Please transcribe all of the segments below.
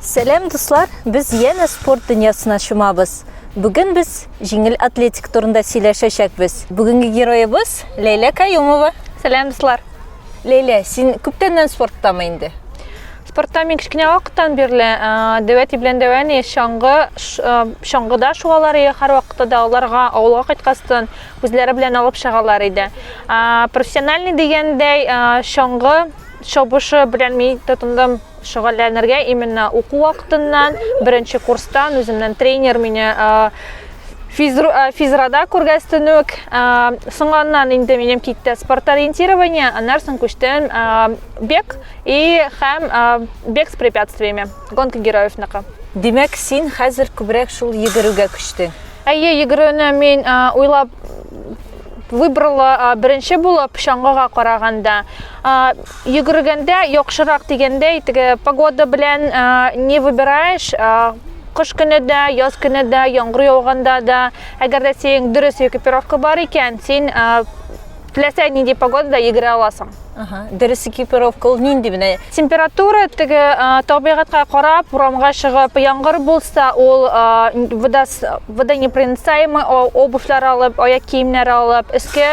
Сәләм, дуслар! Без янә спорт дөньясына чумабыз. Бүген без җиңел атлетик турында сөйләшәчәкбез. Бүгенге героебыз Ләйлә Каюмова. Сәләм, дуслар! Ләйлә, син күптәннән спорттамы инде? Спортта мин кечкенә вакыттан бирле дәвәти белән дәвәни чаңгы чаңгыда шуалар иде һәр вакытта да аларга авылга кайткастан үзләре белән алып чыгалар иде. Профессиональный дигәндәй чаңгы чабышы белән мин тотындым шөгыльләнергә именно уку вакытыннан беренче курстан үземнән тренер мине физру, э, физрада күргәстенүк э, соңганнан инде минем китте спорториентирование аннан соң күчтем э, бег и һәм бег с препятствиями гонка героевныкы димәк син хәзер күбрәк шул йөгерүгә күчтең Әйе, йөгерүне мин уйлап выбрала беренче булып чаңгыга караганда. Йөгергәндә яхшырак дигәндәй, теге погода белән не выбираешь, кыш көне дә, яз көне дә, яңгыр яуганда да, әгәр дә синең дөрес экипировка бар икән, син Теләсә нинди погодада йөгерә аласың. Ага, дөрес экипировка ул нинди менә? Температура теге табигатька карап, урамга чыгып, яңгыр булса, ул водонепроницаемый обувьлар алып, аяк киемнәр алып, өскә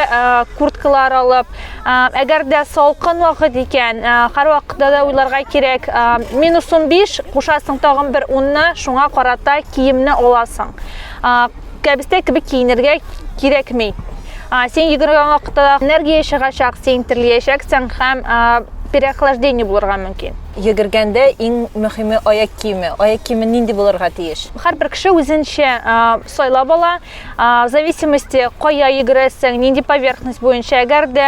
курткалар алып, әгәр дә салкын вакыт икән, һәрвакытта да уйларга кирәк, минус 15 кушасың тагын бер 10 шуңа карата киемне аласың. Кәбестә кебек киенергә кирәкми. Син йөгергән вакытта да энергия чыгачак, син терлиячәксең һәм переохлаждение булырга мөмкин. Йөгергәндә иң мөһиме аяк киеме. Аяк киеме нинди булырга тиеш? Һәрбер кеше үзенчә сайлап ала. В зависимости кая йөгерәсең, нинди поверхность буенча. Әгәр дә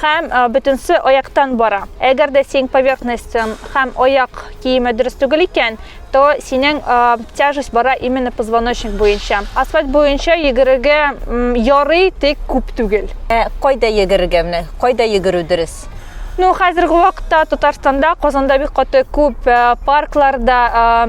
һәм бөтенсе аяктан бара. Әгәр дә синең поверхностьң һәм аяк киеме дөрес түгел икән, то синең тяжесть бара именно позвоночник буенча. Асфальт буенча йөгерергә ярый, тик күп түгел. Ә кайда йөгерергә менә? Кайда йөгерү дөрес? Ну, хәзерге вакытта Татарстанда, Казанда бик каты күп паркларда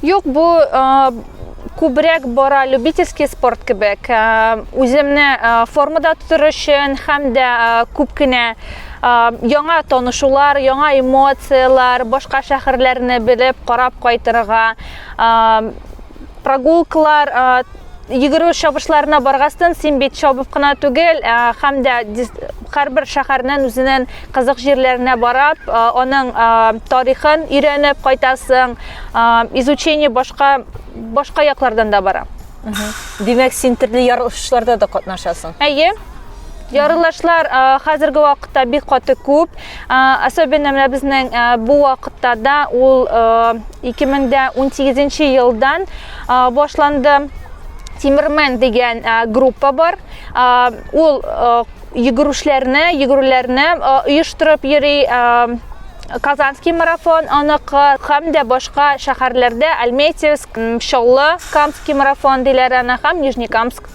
Юк, бу күбрәк бара любительский спорт кебек. Үземне формада тотыр өчен һәм дә күп кенә яңа танышулар, яңа эмоцияләр, башка шәһәрләрне белеп, карап кайтырга, прогулкалар Йөгерү чабышларына баргастын, син бит чабып кына түгел, һәм дә һәрбер шәһәрнең үзенең кызык җирләренә барып, аның тарихын өйрәнеп кайтасың. Изучение башка башка яклардан да бара. Димәк, син төрле ярышларда да катнашасың. Әйе. Ярылышлар хәзерге вакытта бик каты күп. Особенно менә безнең бу вакытта да ул 2018 елдан башланды. Тимермен дигән группа бар. Ул йөгерүшләрне, йөгерүләрне оештырып йөри. Казанский марафон аныкы һәм дә башка шәһәрләрдә Альметьевск, Чаллы, Камский марафон диләр аны һәм Нижнекамск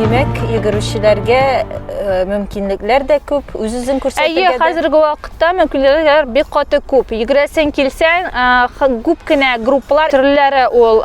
Димәк, йөгерүчеләргә э, мөмкинлекләр дә күп, үз-үзен күрсәтергә. Әйе, хәзерге вакытта мөмкинлекләр бик каты күп. Йөгерәсең килсәң, күп кенә группалар төрләре ул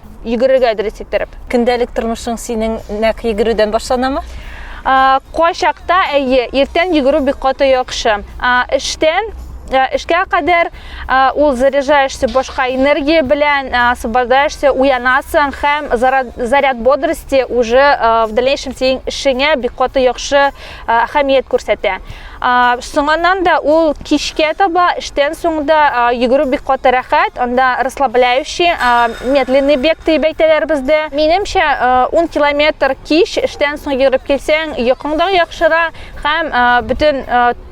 Йөгерергә әдерес иттереп. Көндәлек тормышың синең нәк йөгерүдән башланамы? Кайчакта әйе, иртән йөгерү бик каты яхшы. Эштән эшкә кадәр ул заряжаешься башка энергия белән, освобождаешься, уянасың һәм заряд бодрости уже в дальнейшем синең эшеңә бик каты яхшы әһәмият күрсәтә. Соңыннан да ул кичкә таба эштән соң да йөгерү бик каты рәхәт, анда расслабляющий, медленный бег дип әйтәләр бездә. Минемчә, 10 километр кич эштән соң йөгереп килсәң, йокың да яхшыра һәм бөтен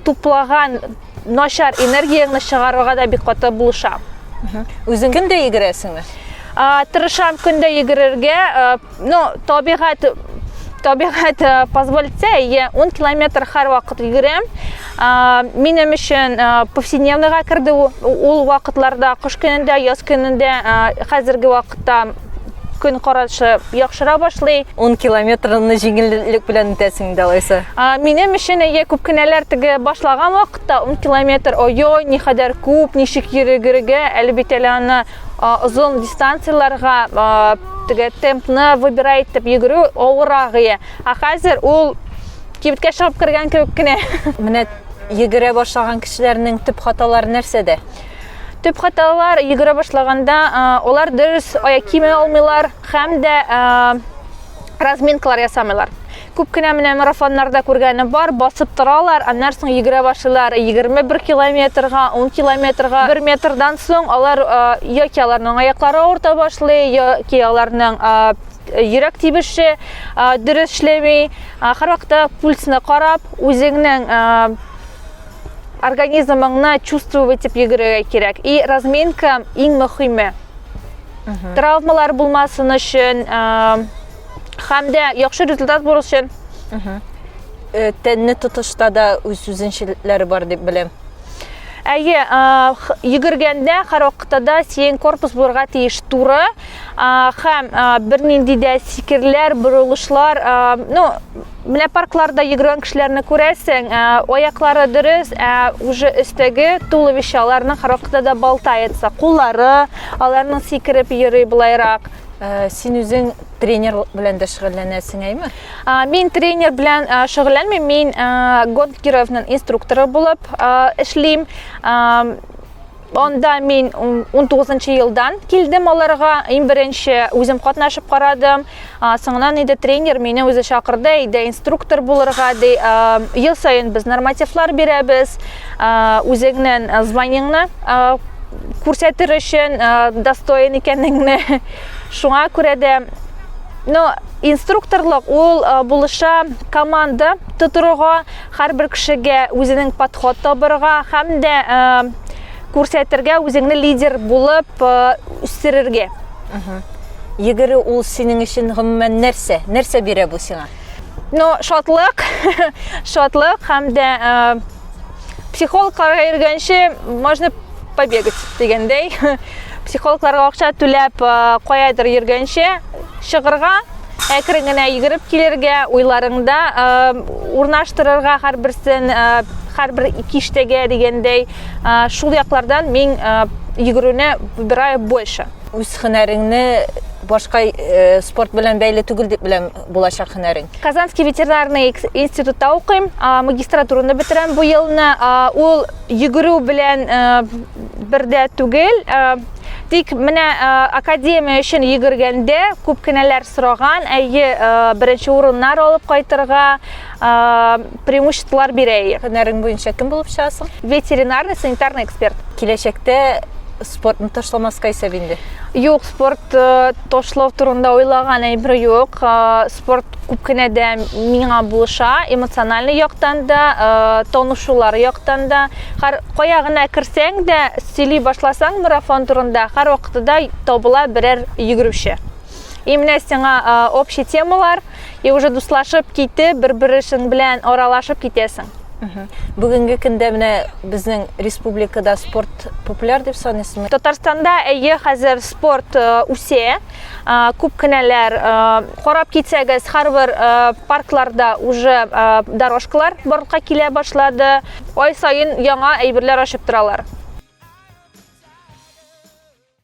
туплаган начар энергияңне чыгарырга да бик каты булыша. Үзең көндә йөгерәсеңме? Тырышам көндә йөгерергә. Ну, табигать табигать э, позволит итсә, әйе, 10 километр һәрвакыт йөгерәм. Минем өчен э, повседневныйга керде ул вакытларда, кыш көнендә, яз көнендә, э, хәзерге вакытта көн карашы яхшыра башлый. 10 километрны җиңеллек белән үтәсең дә алайса. Минем өчен әйе күп кенәләр теге башлаган вакытта 10 километр ой-ой, ни хәдәр күп, ничек йөрегергә, әле бит әле аны озын дистанцияләргә Теге темпны выбирай итеп йөгерү авырагые. Ә хәзер ул кибеткә чыгып кергән кебек кенә. Менә йөгерә башлаган кешеләрнең төп хаталары нәрсәдә? Төп хаталар йөгерә башлаганда алар дөрес аяк киеме алмыйлар һәм дә разминкалар ясамыйлар. Күп кенә менә марафоннарда күргәнем бар, басып торалар, аннан соң йөгерә башлыйлар 21 километрга, 10 километрга. Бер метрдан соң алар яки аларның аяклары авырта башлый, яки аларның йөрәк тибеше дөрес эшләми. Һәрвакытта пульсны карап, үзеңнең организмыңны чувствовать итеп йөгерергә кирәк. И разминка иң мөһиме. Травмалар булмасын өчен, Хәм дә яхшы результат булыр өчен э, тәнне тотышта да үз үзенчәлекләре бар дип беләм. Әйе, йөгергәндә һәрвакытта да сиен корпус булырга тиеш туры һәм бернинди дә сикерләр, борылышлар, ну, менә паркларда йөгергән кешеләрне күрәсең, аяклары дөрес, ә уже өстәге туловище аларның һәрвакытта да балтаятса, куллары аларның сикереп йөри былайрак. Э, син үзең тренер белән дә шөгыльләнәсең әйме мин тренер белән э, шөгыльләнмим мин э, гонт кировның инструкторы булып эшлим Онда мин 19 елдан килдем аларга. Иң беренче үзем катнашып карадым. Соңынан иде тренер мине үзе чакырды, иде инструктор булырга, ди. Ел саен без нормативлар бирәбез. үзеңнен званиеңны күрсәтер өчен достоин икәнеңне шуңа күрә дә но инструкторлык ул булыша команда тотырга һәрбер кешегә үзенең подход табырга һәм дә күрсәтергә үзеңне лидер булып үстерергә йөгерү ул синең өчен гомумән нәрсә нәрсә бирә бу сиңа Ну, шатлык, шатлык һәм дә психологларга йөргәнче можно побегать дигәндәй. Психологларга акча түләп каядыр йөргәнче чыгырга, әкрен генә йөгереп килергә, уйларыңда урнаштырырга һәрберсен, һәрбер киштәгә дигәндәй, шул яклардан мин йөгерүне выбираю больше. Үз һөнәреңне башка спорт белән бәйле түгел дип беләм. булачак һөнәрең? Казанский ветеринарный институтта укыйм, магистратураны бетерәм бу елны. Ул йөгерү белән бердә түгел, тик менә академия өчен йөгергәндә күп кенәләр сораган, әйе, беренче урыннар алып кайтырга, преимуществолар бирәй. Һөнәрең буенча кем булып чыгасың? Ветеринарный, санитарный эксперт. Киләчәктә спортны ташламаска исәп инде. Юк, спорт э, ташлау турында уйлаган әйбер юк. Э, спорт күп кенә дә миңа булыша, эмоциональный яктан да, э, танышулар яктан да. Һәр кая гына керсәң дә, сөйли башласаң марафон турында, һәр вакытта табыла берәр йөгерүче. И менә сиңа общий темалар, И уже дуслашып китеп, бер-берешең белән аралашып китәсең. Бүгенге көндә менә безнең республикада спорт популяр дип саныйсызмы? Татарстанда әйе, хәзер спорт э, үсә. Э, күп кенәләр э, карап китсәгез, һәрбер паркларда уже дорожкалар барлыкка килә башлады. Ай саен яңа әйберләр ачып торалар.